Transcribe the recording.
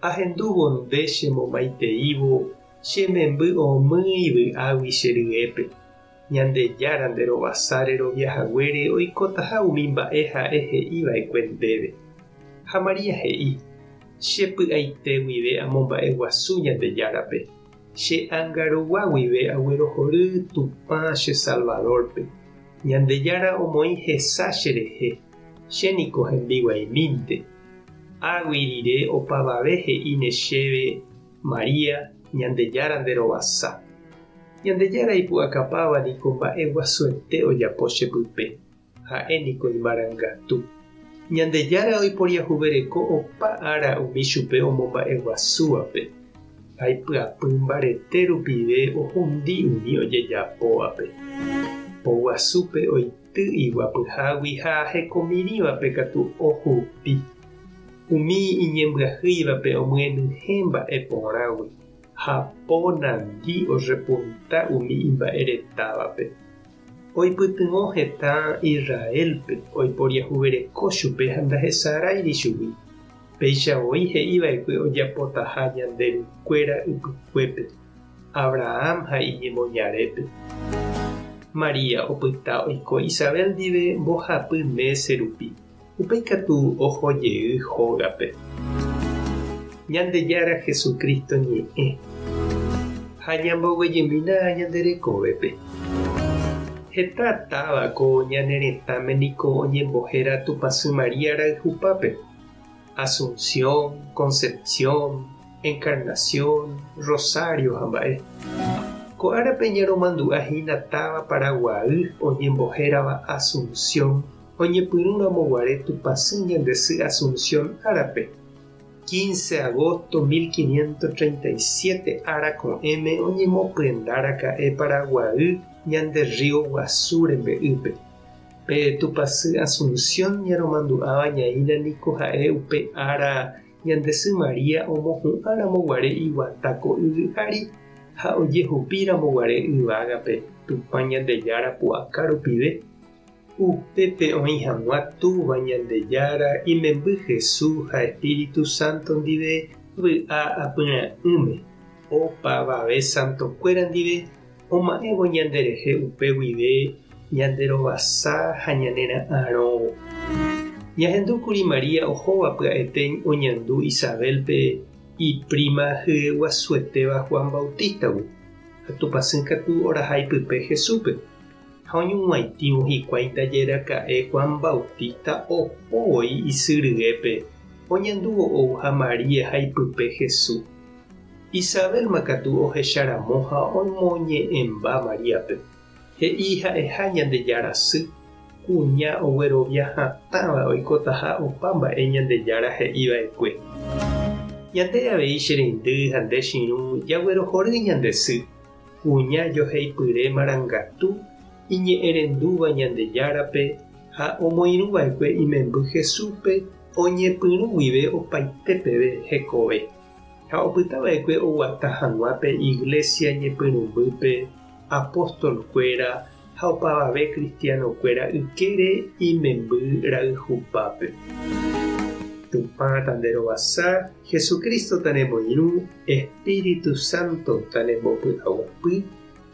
Ahendúvo nde che momaiteívo che memby omýi vy'águi che ryépe. Ñandejára nde rovasa rerovia haguére oikotaha umi mba'e ha'e he'i va'ekue ndéve. Ha María he'i, Che py'aite guive amomba'e guasu Ñandejárape. Che ánga rogua guive aguerohory Tupã che Salvador-pe. Ñandejára omoĩ hesa che rehe. Che niko hembiguaimínte. Águi rire opavave he'íne chéve, María, Ñandejára nderovasa. Ñandejára ipu'akapáva niko mba'e guasuete ojapo che pype, ha'e niko imarangatu. Ñandejára oiporiahuvereko opa ára umi chupe omomba'e guasúvape, ha ipyapy mbarete rupive ohundi umi ojejapóvape. Po guasúpe oike. Ty iguapyhágui ha hekomirĩvape katu ohupi. Umi iñembyahýivape omyenyhẽ mba'e porãgui, ha po nandi orrepunta umi imba'e retávape. Oipytyvõ heta Israélpe oiporiahuvereko chupe ha ndahesaráiri chugui, péicha voi he'iva'ekue ojapotaha Ñanderukuéra ypykuépe. Abrahán ha iñemoñarépe. María opyta oiko Isabel ndive mbohapy mése rupi, upéi katu oho jey hógape. Ñandejára Jesucristo ñe'ẽ. Ha ñamboguejymína ñande rekovépe. Heta táva ko ñane retãme niko oñembohéra Tupãsy María rayhupápe. Asunción, Concepción, Encarnación, Rosario ha mba'e. Ko árape ñaromandu'a hína táva Paraguaýy oñembohérava Asunción oñepyrũramo guare Tupãsy ñande sy Asunción árape, 15 agosto 1537 ára ko'ẽme oñemopyendaraka'e Paraguaýy ñande rrío guasu rembe'ýpe. Pe tupasy Asunción ñaromandu'áva ñaína niko ha'e upe ára ñande sy María omohu'ã ramo guare iguata ko yvy ári ha ojehupi ramo guare yvágape Tupã Ñandejára pu'aka rupive. Upépe oĩ hag̃ua Túva Ñandejára imemby Jesús ha Espíritu Santo ndive vy'a apyrã'ỹme, opavave santokuéra ndive, oma'ẽvo ñanderehe upe guive ñanderovasa ha ñanera'arõvo. Ñahendu kuri María ohóva pya'etéi oñandu Isabélpe ipríma hyeguasuetéva Juan Bautístagui, ha tupãsy katu orahai pype Jesúspe, ha oñuguãitĩvo hikuái ndaje raka'e Juan Bautísta oho voi isy ryépe oñandúvo ou ha María ha ipype Jesús. Isabélma katu ohecha ramo ha omoñe'ẽmba Maríape, he'i ha'eha Ñandejára sy, kuña oguerovia hatãva oikotaha opa mba'e Ñandejára he'i va'ekue. Ñande avei che reindy ha nde chirũ jaguerohory ñande sy, kuña joheipyre marangatu iñe'ẽrendúva Ñandejárape ha omoirũ va'ekue imemby Jesúspe oñepyrũ guive opaite peve hekove. Ha opyta va'ekue oguata hag̃ua pe iglésia ñepyrũmbýpe apóstolkuéra ha opavave kristianokuéra ykére imemby rayhupápe. Tupã tanderovasa, Jesucristo tanemoirũ, Espíritu Santo tanembopy'aguapy,